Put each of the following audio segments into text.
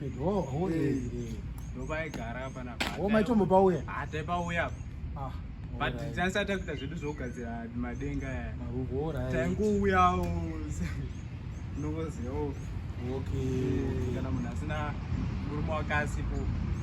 Pedro, oh, eh, eh. Ndopaigara apa na. Oh, macho mupauya. Ah, taipauya apa. Ah. But tinasa takuita zvedu zvogadzira madenga aya. Marubora. Taingouyawo. Ndongoziva. Okay. Eh, kana munhu asina murume wakasipo.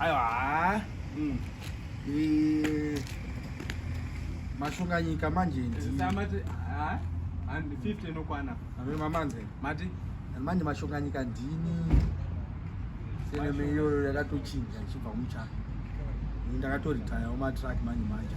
aiwa haa mm. eh, mashonganyika manje ndiamati haa and 50 inokwana amene mamanze mati manje mashonganyika ndini seneme iyoyo yakatochinja ichibva muchaka ndakatoritaya umatrack manje manje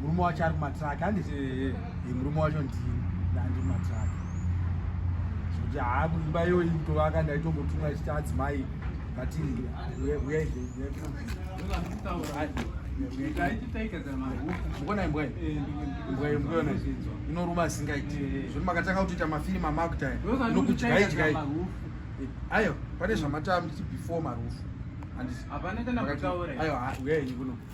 murume wacho ari kumatraki handi murume wacho ndini ndandi mumatraki zvokuti haa kuimba iyoyi kutovaka ndaitombotumwa chiti adzimai vati mukonai mbwai mbwai mukuona inoruma asingaiti zvoti makatanga kutoita mafirimu amakuta inokudyaidyai ayo pane zvamatamuti before marufu andisi ayo uyai kuno